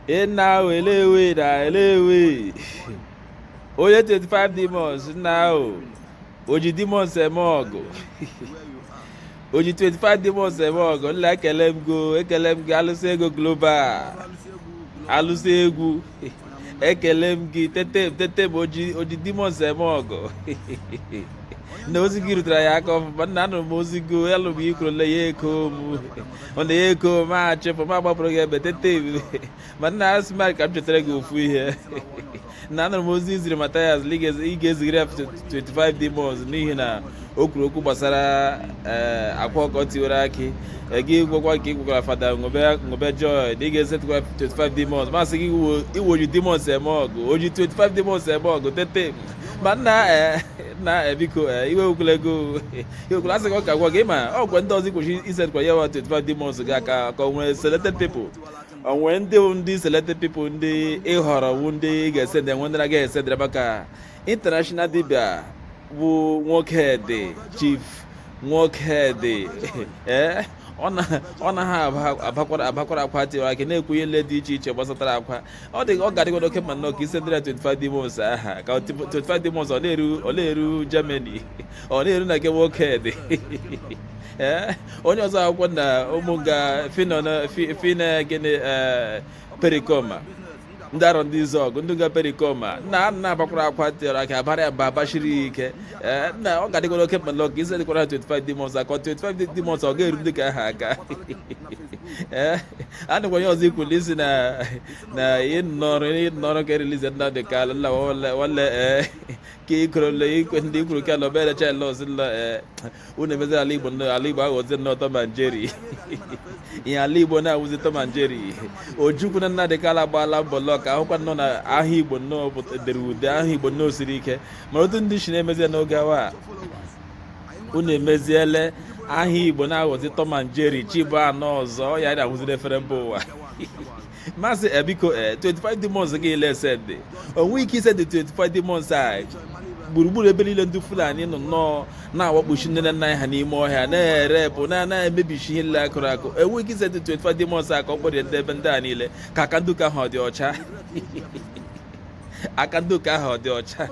nna ahụ elewe na elewe onye 25 demons nna ahụ oji demons eme ọgọ oji 25 demons eme ọgọ nna ekele m go ekele m gị alụsị ego global alụsị egwu ekele m gị tete m tete m oji demons eme ọgọ na ozi gị rutere ya aka ọfụma nna anụrụ m ozi gị alụ m ikwurule ya eko m ọ na ya eko m achịpụ m agbapụrụ gị ebe tete m ma nna asị m ka m chetara gị ofu ihe na anụrụ m ozi iziri Mathias ị ga-ezigara ya 25 demons n'ihi na o kwuru okwu gbasara eh, Akwa Ọkụkọ tiwere akị eh, gị gwakwa ka ị gwagwara fada ṅụbe joy na ị ga-esendụkwa 25 demons masị gị iwe oji demons eme ọgọ oji 25 demons eme ọgọ tete ma nna eh, nna biko iwe ewekwala go iwe ewekwala asị gị ọka gwa gị ma ọgwa ndị ọzọ kwesịrị isendụkwa ya wa 25 demons gị aka ka o nwee selected people o nwe ndị ndị selected people ndị ị họrọ wu ndị ị ga-esendere nwee ndị ị na-agaghị esendere maka international dibia bụ Nwokedi chief Nwokedi ee eh? ọ naghị abakwara abakwara akwa tiwara akị na-ekwu ihe dị iche iche gbasatara akwa ọ dị ọ ga-adịgodu oke mma nnọọ ka isendere 25 demons ahụ ka 25 demons ọ na-eru Germany ọ na-eru na nke Nwokedi ee eh? onye ọzọ akwụkwọ na ụmụ ga fina gịnị eh, Pericoma ndị Arọndizuọgụ ndị nga Pericoma nna a na-abakwara akwa tiwara akị abara ya mba abachiri ya ike ee nna ọ ga-adịkwara oke mma nnọọ ka isendikwara ha 25 demons a ka 25 demons ọ ga-eru ndị nke ahụ aka ee a dịkwa onye ọzọ ikwuli isi na na ịnọrọ ịnọrọ ka e release Nnamdi Kanu wale ee ka ikwurule ikwe ndị ikwuru ka ala obere chelọs la ee unu emezi ala igbo ala igbo aghọzi nnọọ Tom and Jerry ihe ala igbo na-awụzi Tom and Jerry Ojukwu na Nnamdi Kanu agbaala mbọ nnọọ ka a hụkwa nnọọ na aha igbo nnọọ dere ude aha igbo nnọọ siri ike mana otu ndị isi na-emezi n'oge a wa unu emeziele aha igbo na-aghọzi Tom and Jerry chi bọọ a nụ ọzọ ya na-awụziri ifere mba ụwa m asị biko eh, 25 eh, demons gị ị na-esend e nwe ike isendi 25 demons a gburugburu ebe niile ndị Fulani nọ nnọọ na-awakposi nne na nna ha n'ime ọhịa na-erepụ na-emebisi ihe nile akụrụ akụ e nwe ike isendi 25 demons a ka ọ kpọrọ ndị ebe ndị a niile ka aka ndị nke ahụ ọ dị ọcha aka ndị ụka ahụ ọ dị ọcha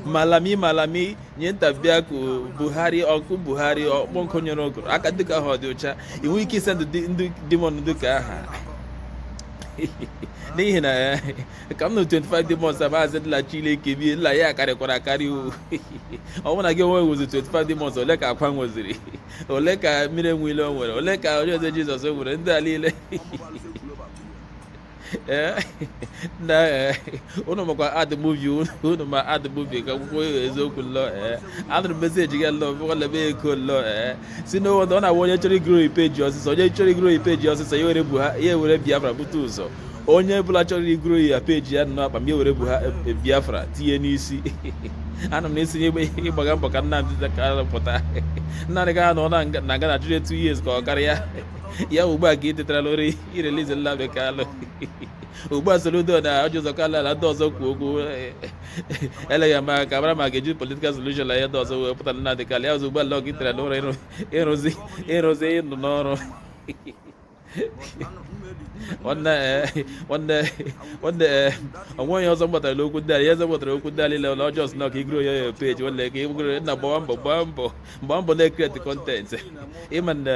malami malami nye ntabịa ka buhari ọkụ buhari ọkpọnkụ nyere ogoro aka ndị ụka ahụ ọ dị ọcha ị nwee ike ịsendi ndị demon ndị ụka aha n'ihi na eh, ka m nọ 25 demons a maazị dịla chineke bie nla ya karịkwara akarị o ọ bụrụ na gị onwe nwezi 25 demons ole ka akwa nweziri ole ka mmiri enwe ilo nwere ole ka onye eze jizọs nwere ndị a niile Eh, na eh, ụnụ makwa ad muvi ụnụ ma ad muvi ka akwụkwọ eziokwu lọ eh. anụrụ meseji gị lọ ọla m eko lọ si n'ụwọdụ ọ na-awụ onye chọrọ igoro ipeji ọsịsọ onye chọrọ igoro ipeji ọsịsọ ya were ya were biafra bute ụzọ onye bụla chọrọ igoro ya peji ya nọ akpa m ya were bu ha biafra tinye n'isi ana m na-esinye ịgbaga mbọ ka Nnamdi Kanu pụta Nnamdi Kanu nọ na nga na 2 years ka ọ karịa ya ugbu a ka ị tetara n'ụra irelize Nnamdi Kanu ugbu a Soludo na Orji Uzor Kalu na ndị ọzọ kwuo okwu eleghị anya ka a mara ma a ga-eji politikal solushon na ihe ndị ọzọ wepụta Nnamdi Kanu ya ọzọ ugbu a lọ ka i tetara n'ụra ịrụzi ịrụzi ịnụ n'ọrụ nwanne nwanne nwanne o nweghị ihe ọzọ m ghọtara n'okwu ndị a ihe ọzọ m ghọtara okwu ndị a niile na ọjọọ sịna ka igoro ya ya peji nwanne ka igoro nna gbawa mbọ gbaa mbọ gbaa mbọ na-ekreti kọntentị ịma na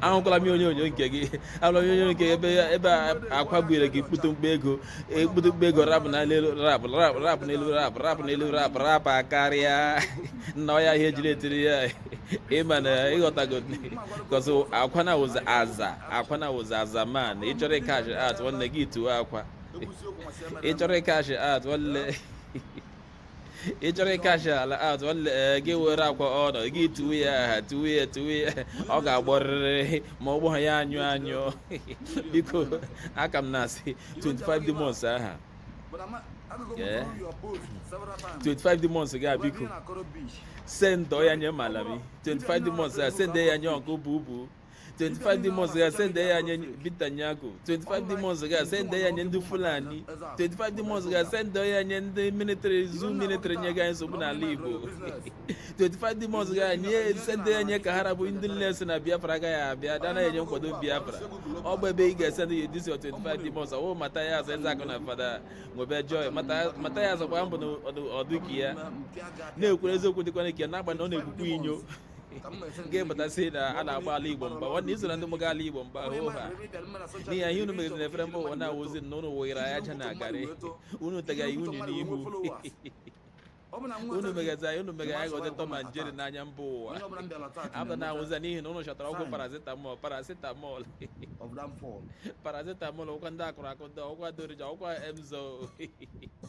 ahụkwala m onyonyo nke gị ahụla m onyonyo nke ebe ebe akwa gbuere gị kpụtụ mkpa ego ekpụtụ mkpa ego rapụ na elu rapụ rapụ rapụ n'elu rapụ rapụ n'elu rapụ rapụ karịa nna ọ ya ihe e jiri etiri ya ịma na ịghọtago kọsụ akwa na wụza aza akwa na-awụzi aza man ị chọrọ ịkash out nwanne gị tuo akwa ị chọrọ ịkash out nwanne ị chọrọ ịkashi ala out nwanne ee, gị were akwa ọnụ gị tuwe ya aha tuwe ya tuwe ya ọ ga-agbọrịrị ma ọ gbọghị ya anyụ anyụ biko a ka m na-asị 25 demons aha But I'm not, I don't go Yeah. through your post several times. 25 demons gị a But biko me na Koro Beach. sendọ ya nye malami 25 demons a sendọ ya nye Uncle Bubu 25 demons gị a sende ya nye Binta Nyako 25 demons gị a sende ya nye ndị Fulani 25 demons gị a sende ya nye ndị military zoo military nye ga nsogbu n'ala Igbo 25 demons ga-enye sende ya nye ka ha rabụ ndị niile sị na Biafra agaghị abịa ndị anaghị enye nkwado Biafra ọ bụ ebe ị ga-esende ya this 25 demons ọwụ Mathias Ezeaku na fada nwebe joy Mathias kwa mbụ na ọdụki ya na-ekwere eziokwu dịkwana ike n'agbanyeghị ọ na-egbukwa inyo ka m na-ese ga-emetasị na a na-agba ala igbo mgba nwanne i so na ndị mụga ala igbo mgba hoo ha n'ihi ya ihe unu megidere efere mba ụwa na-awụzi na unu wụnyere anyị aja na garị unu tega anyị unyi n'ihu unu megazi anyị unu mega anyị ghọzi tom and jerry n'anya mba ụwa abụ na awụzi n'ihi na unu chọtara ọgwụ paracetamol paracetamol paracetamol ọkwa ndị akụrụ akụ ndị ọkwa dorija ọkwa emzor